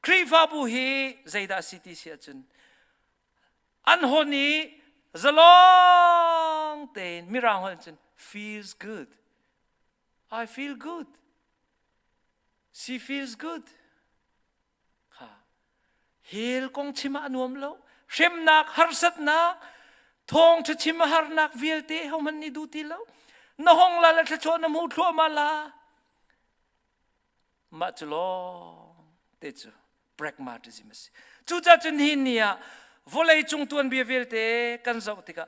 Khrihfabu hi zeidah si ti si ahcun an hon i zalong tein mirang holh cun feels good I feel good she feels good kha hel kong chim ah a nuam lo hremnak harsatnak thawngṭha chim a harnak vialte hohmanh nih duh ti lo na hong la la thlachuah na hmu thluahmah la mah cu lawng te cu pragmatism a si cucacun hi ni ah vawlei cung tuanbia vialte kan zoh tikah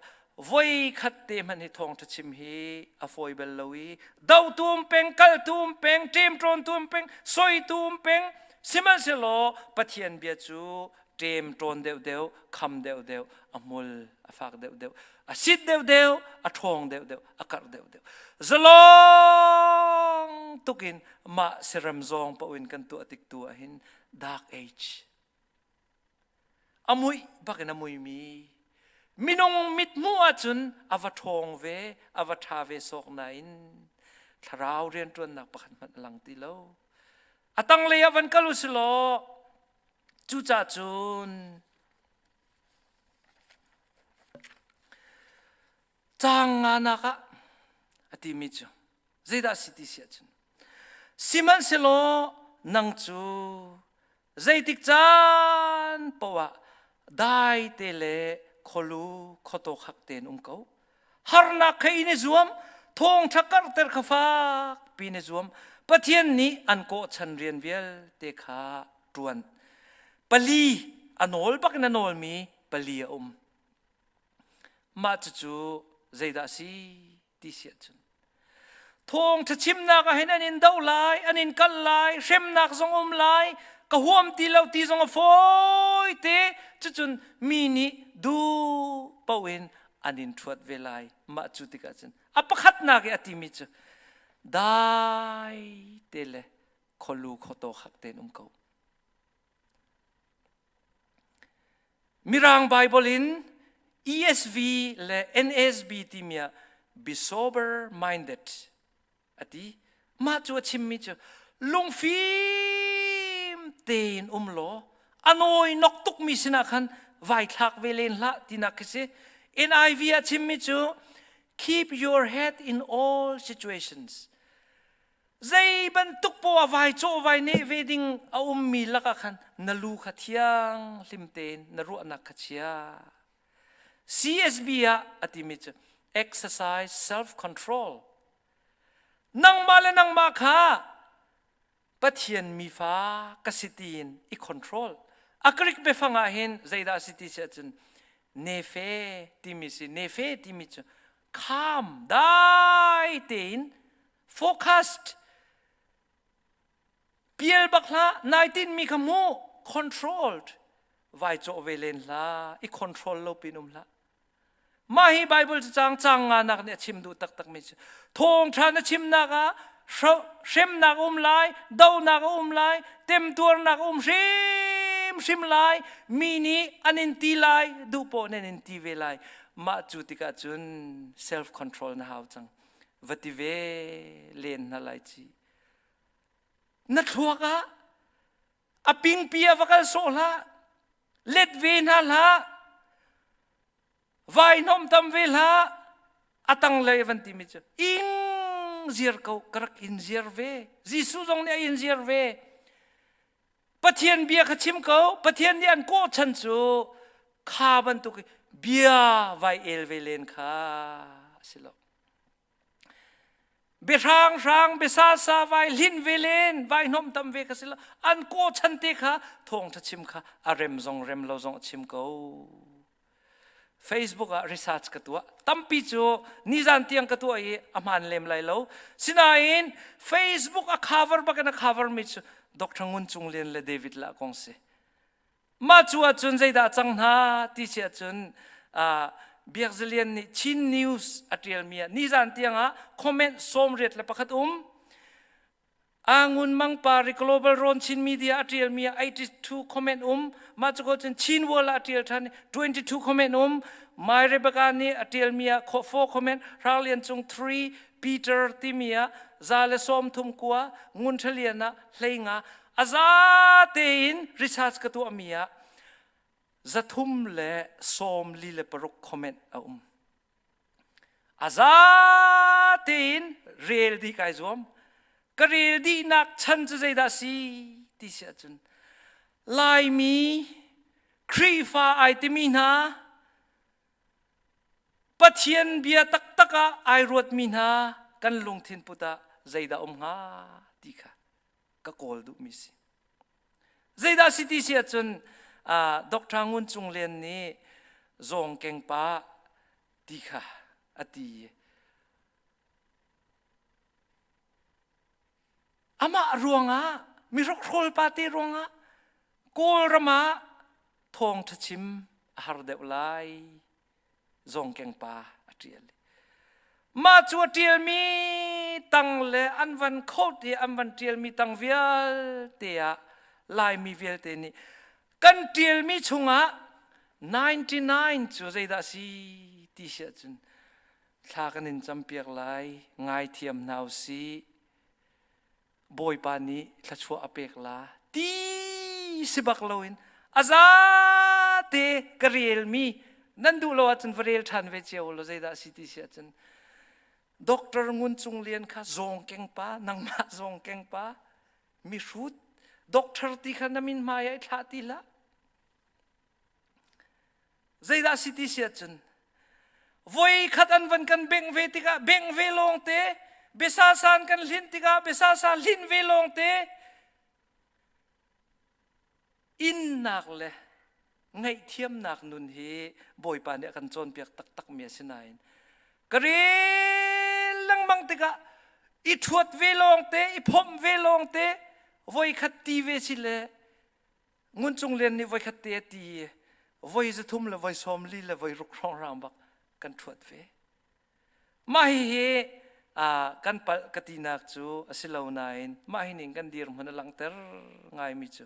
voikhat te hmanh hi thawngtha chim hi a foi bel lo i do tum peng kal tum peng ṭem ṭon tum peng soi tum peng sihmanhsehlaw pathian bia cu ṭem ṭon deuh deuh kham deuh deuh a mul a fak deuh deuh a sit deuh deuh a ṭhawng deuh deuh a karh deuh deuh zalong tukin mah siram zong paoin kan tuah tik tu ahin dark age a muih bak in a muimi minung mithmuh ahcun a va ṭhawng ve a va ṭha ve sawk nain thlarau rianṭuannak pakhat hmanh a lang ti lo a tanglei ah van kal u silaw cucah cun caang nganak ah a timi cu zeidah a si ti si ahcun sihmanhsehlaw nang cu Zeitik caan poah dai te le kholu khoto khak tein um ko. Harnak kha in i zuam, thawngtha karhter kha fak pi ne zuam. Pathian nih an kawh chan rian vialte kha tuan. Pali a nawl bakin a nawlmi pali a um. Mah cucu zeidah si? ti siah cun thawngṭha chimnak ah hin an in do lai an in kal lai hremnak zong um lai ka huam ti lo ti zong a fawi te cucun mi nih duh poin an in ṭhuat ve lai mah cu tikah cun a pakhatnak i a timi cu dai te le kholu khoto khak tein um ko Mirang Bible in ESV le NASB timi ah be sober minded a ti. Mah cu a chimmi cu lungfim tein um law a nawi nok tukmi sinah khan vai thlak ve len hlah tinak khi si. NIV a chimmi cu keep your head in all situations. zei bantuk poah vai cawhvai neh ve ding a ummi lakah khan na lu kha thiang hlim tein na ruahnak kha chia CSB ah a timi cu exercise self control nangmah le nangmah kha pathian mi fa ka si tiin i control a krik biafang ah hin zeidah a si ti si ahcun nefe timi si nefe timi cu calm dai tein focused pial bak hlah nai tin mi kha mu controlled vai chaw ve len hla i control lo pin um hlah mah hi bible cu cang cang nga nak nih a chim duh taktak mi cu thong than na chim nak ah hremnak um lai donak um lai temtuarnak um hrim hrim lai mi nih an in ti lai duh po nen in ti ve lai mah cu tikah cun self control na hau cang va ti ve len hna lai ci na thluak ah a pingpi a va kal sawh hlah let ve hna hlah vai nom tam ve hlah a tang lei van ti mi cu ing ziar ko karak in ziar ve Jesuh zong nih a in ziar ve Pathian bia kha chim ko. Pathian nih an kawh chan cu kha bantuk i bia vai el ve len kha a si lo. Biahrang hrang biasa sa vai hlin ve len vai hnawm tam ve ka si lo an kawh chan te kha thawngtha chim kha a rem zong rem lo zong a chim ko Facebook ah research ka tuah tampi cu nizan tiang ka tuah i a hmaan lem lai lo sinain Facebook a cover bakin a cover mi cu Dr. Ngun Cung Lian le David La kong si mah cu ahcun zeidah cang hna ti si ahcun uh, Biak Zalian nih Chin News a ṭialmi ah nizan tiang ah comment sawmriat le pakhat um a ngun mang pa ri global ron chin media a tial mi 82 comment um ma chu ko chin chin wall a tial than 22 comment um mai rebecca ni a tial mi a kho 4 comment ralian chung 3 peter timia za le som thum kwa ngun thaliana hlenga aza te in research ka tu amia zathum le som li le paruk comment a um a za tein rel dih kai zuam ka rel dihnak chan cu zeidah si ti si ahcun laimi khrihfa ai timi hna pathian bia taktak ah ai ruatmi hna kan lungthin put ah zeidah um hnga ti kha ka kawl duhmi si. Zeidah si ti si ahcun Dr. Ngun Cung Lian nih Zawng Kengpa ti kha a ti i amah ruangah mihrokhrol pate ruangah Kawlram ah thawng ṭha chim a har deuh lai Zawngkeng pa a ṭial. Mah cu a ṭialmi tang le an van khot i an van ṭialmi tang vialte ah Laimi vialte nih kan ṭialmi chungah 99 cu zeidah a si ti si ahcun thla kan in campiak lai. Ngaithiam hna u sih. Bawipa nih thluachuah a pek la ti si bak loin aza te ka relmi nan duh lo ahcun va rel ṭhan ve cio lo zeidah si ti si ahcun Doctor Ngun Cung Lian kha zawng keng pa nangmah zawng keng pa mi hrut doctor ti kha na min hmai ah thlah ti hlah Zeidah si ti si ahcun voi khat an van kan bengh ve tikah bengh ve lawng te biasa san kan hlin tikah biasa sa hlin ve lawng te innak le ngaihthiamnak nun hi bawipa nih a kan cawnpiak taktakmi a si nain ka rel lengmang tikah i ṭhuat ve lawng te i phomh ve lawng te voi khat ti ve si le ngun cung lian nih voi khat te a ti i voi zathum le voi sawm li le voi ruk hrawng hrang bak kan ṭhuat ve mah hihi kan pal ka tinak cu a si lo nain mah hi ning kan dir hmun a langhter ngaimi cu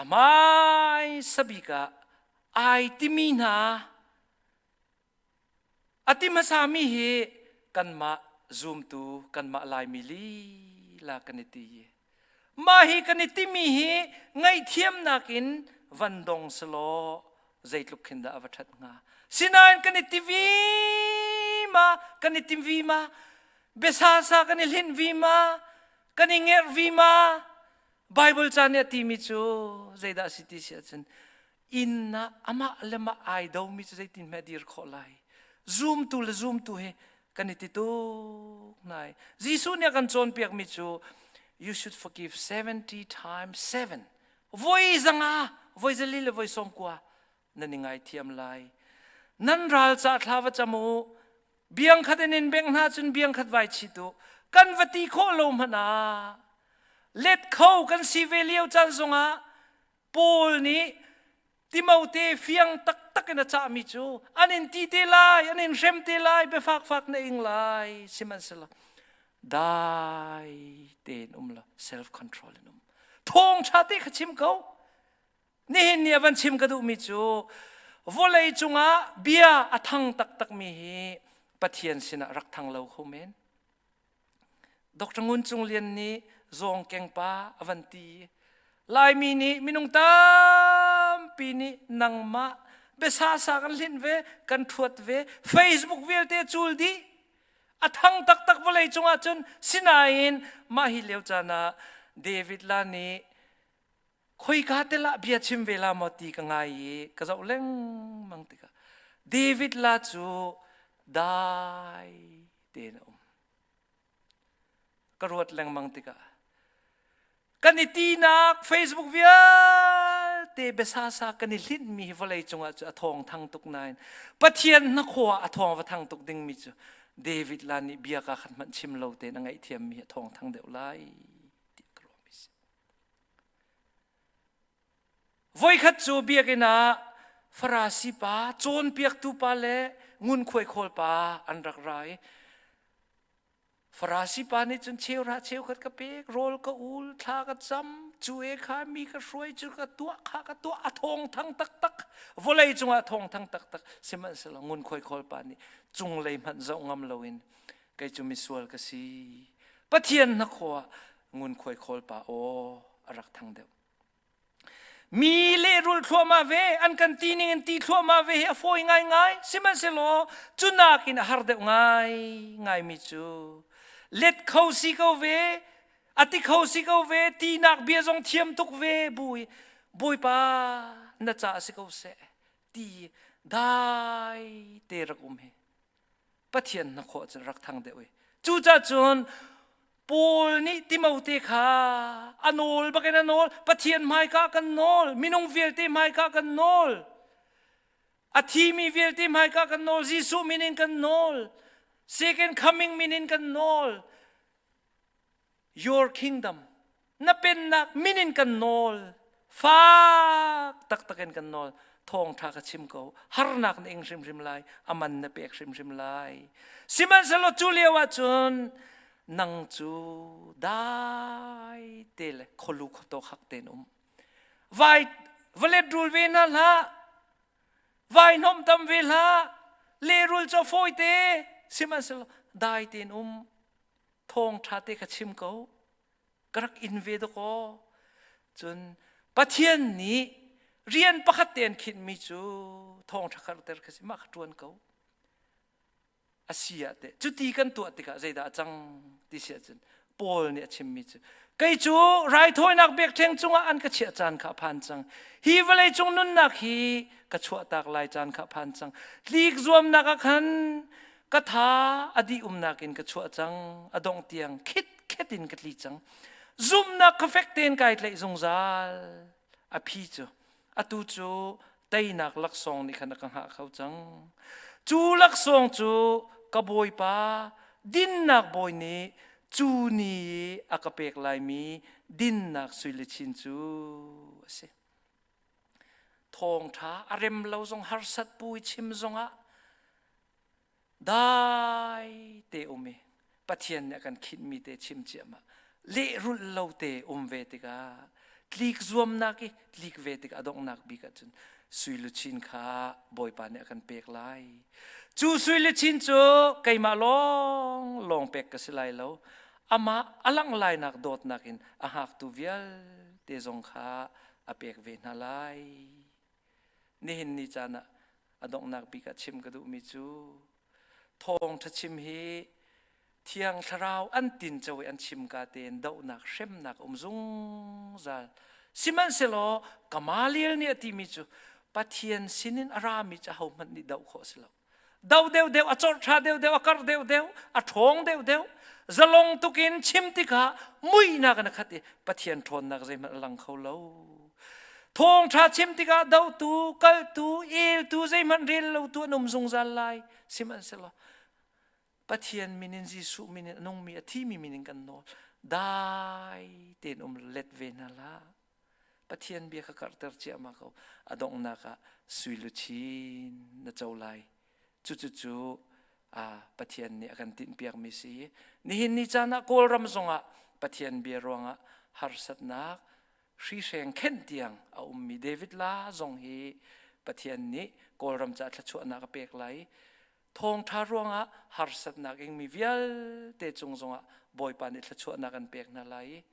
a hmaisa bik ah ai timi hna A ti hmasami hi kanmah zumtu kanmah Laimi lila kan i ti. Mah hi kan i timi hi ngaihthiamnak in van dong selaw zeitluk khin dah a va ṭhat hnga. Sinain kan i ti vi ma, kan i tim vi ma, biasasa kan i hlinh vi ma, kan i ngerh vi ma, Baibal ca nih a timi cu zeidah a si ti si ahcun inn ah amah le mah ai domi cu zeitin hmeh dir khawh lai zumtu le zumtu he kan i ti tuk lai jesuh nih a kan cawnpiakmi cu you should forgive 70 times 7 voi zanga voi zali le voi sawmkua nan i ngaithiam lai nan ral ca thla va cam u biang khat in in beng hna cun biang khat vai chit u kan va ti khawh lo hmana let kho kan si ve lio caan zongah Paul nih Timote fiang taktak in a cahmi cu an in ti te lai, an in hrem te lai, biafakfak na ing lai, sihmanhsehlaw dai tein um law self control in um. Thawngṭha te kha chim ko. Nihin ni a van chim ka duhmi cu vawlei cungah bia a thang taktakmi hi Pathian sinah rak thang lo hum in Dr. Ngun Cung Lian nih zawng kengpa a van ti. Laimi nih minung tampi nih nangmah biasa sa kan hlinh ve, kan ṭhuat ve, Facebook vialte cul dih. A thang taktak vawlei cungah cun sinain mah hi lio caan ah David la nih khoika tel ah bia chim ve la maw ti ka ngai i ka zoh lengmang tikah David la cu dai tein a um ka ruat lengmang tikah kan i tinak facebook vialte besasa kan i hlinh mi vawlei cungah cu a thawng thang tuk nain pathian hnakhawa a thawng va thang tuk ding mi cu David la nih bia ka khan hmanh chim lo tein a ngaihthiam mi a thawng thang deuh lai Voikhat cu biakinn ah Farasi pa, cawnpiaktu pa le ngunkhuai khawl pa an rak ra i Farasi pa nih cun cheukhat cheukhat ka pek, rawl ka ul, thla ka cam, cu e kha mi ka hruai cu ka tuah kha ka tuah, a thawngthang taktak, vawlei cungah a thawngthang taktak, sihmanhsehlaw ngunkhuai khawl pa nih cunglei hmanh zoh ngam loin kei cu misual ka si. Pathian hnakhaw ah ngunkhuai khawl pa aw a rak thang deuh. Mi lehrul thluahmah ve, an kan ti ning in ti thluahmah ve hi a fawi ngaingai. Sihmanhsehlaw, cu nakin a har deuh ngai ngaimi cu let kho si ko ve, a ti kho si ko ve, tinak bia zong thiam tuk ve, bui, bawipa na ca si ko seh, ti dai te rak um hi Pathian hnakhaw cun rak thang deuh i cucacun Paul nih Timote kha a nawl bakin a nawl Pathian hmaika kan nawl minung vialte hmaika kan nawl a thimi vialte hmaika kan nawl Jesuh min in kan nawl second coming min in kan nawl your kingdom na pennak min in kan nawl fak taktak in kan nawl thawngtha ka chim ko harnak na ing hrimhrim lai aman na pek hrimhrim lai sihmanhsehlaw cu lio ahcun nang cu dai te le kholu khoto khak ten um vai valet rul ve na hlah vai nom tam ve hlah le rul cho foi te sihmanhsehlaw dai ten um thawng tha te ka chim ko ka rak in ve dakaw cun pathian nih rian pakhat te an khinhmi cu thawng ṭhakharter ka si mah kha ṭuan ko a si ah teh cuti kan tuah tikah zeidah a cang ti si ahcun Paul nih a chimmi cu kei cu raithawinak bekṭheng cungah an ka chiah caan kha phan cang hi vawlei cung nunnak hi ka chuahtak lai caan kha phan cang tlik zuamnak ah khan ka tha a dih umnak in ka chuah cang a dongh tiang khit khet in ka tli cang zumnak kha fek tein kai tlaih zungzal a phi cu atu cu teinak laksawng nih khan a ka hngah kho cang cu laksawng cu ka bawipa dinnak bawi nih cu ni a ka pek laimi dinnak suile chin cu a si thawngtha a rem lo zong harsat pui chim zongah dai te um i Pathian nih a kan khinhmi te chim ciahmah lehrulh lo te um ve tikah tlik zuamnak i tlik ve tikah a donghnak bik ah cun suiluchin kha Bawipa nih a kan pek lai cu suiluchin cu keimah lawng lawng pek ka si lai lo amah a langh lainak dawtnak in a hngaktu vialte zong kha a pek ve hna lai Nihin ni caan ah a donghnak bik ah chim ka duhmi cu thawngṭha chim hi Thiang Thlarau an tinco i an chim ka tein dohnak hremnak um zungzal sihmanhsehlaw Gamaliel nih a timi cu Pathian sinin a rami cu ahohmanh nih doh khawh a si lo. do deuhdeuh a chawrhṭha deuhdeuh a karh deuhdeuh a ṭhawng deuhdeuh zalong tukin chim tikah muihnak in a khat i pathian ṭhawnnak zeihmanh a lang kho lo thawngṭha chim tikah dotu kaltu eltu zeihmanh rel lotu an um zungzal lai sihmanhsehlaw Pathian min in Jesuh min in a nungmi a thimi min in kan nawl dai tein um let ve hna hlah Pathian bia ka karhter ciahmah ko a donghnak ah sui luchin na co lai cucucu Pathian nih a kan tinhpiakmi si i nihin ni caan ah Kawlram zongah Pathian bia ruangah harsatnak hrihreng khenh tiang a ummi David la zong hi Pathian nih Kawlram caah thluachuahnak a pek lai thawngṭha ruangah harsatnak in mi vialte cung zongah Bawipa nih thluachuahnak an pek hna lai i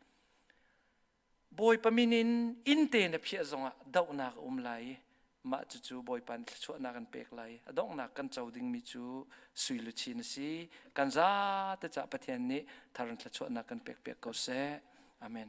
Bawipa min in innte na phiah zongah dohnak a um lai i mah cucu Bawipa nih thluachuahnak an pek lai a donghnak kan co dingmi cu sui luchin a si kan zate cah Pathian nih thar in thluachuahnak kan pekpiak ko seh amen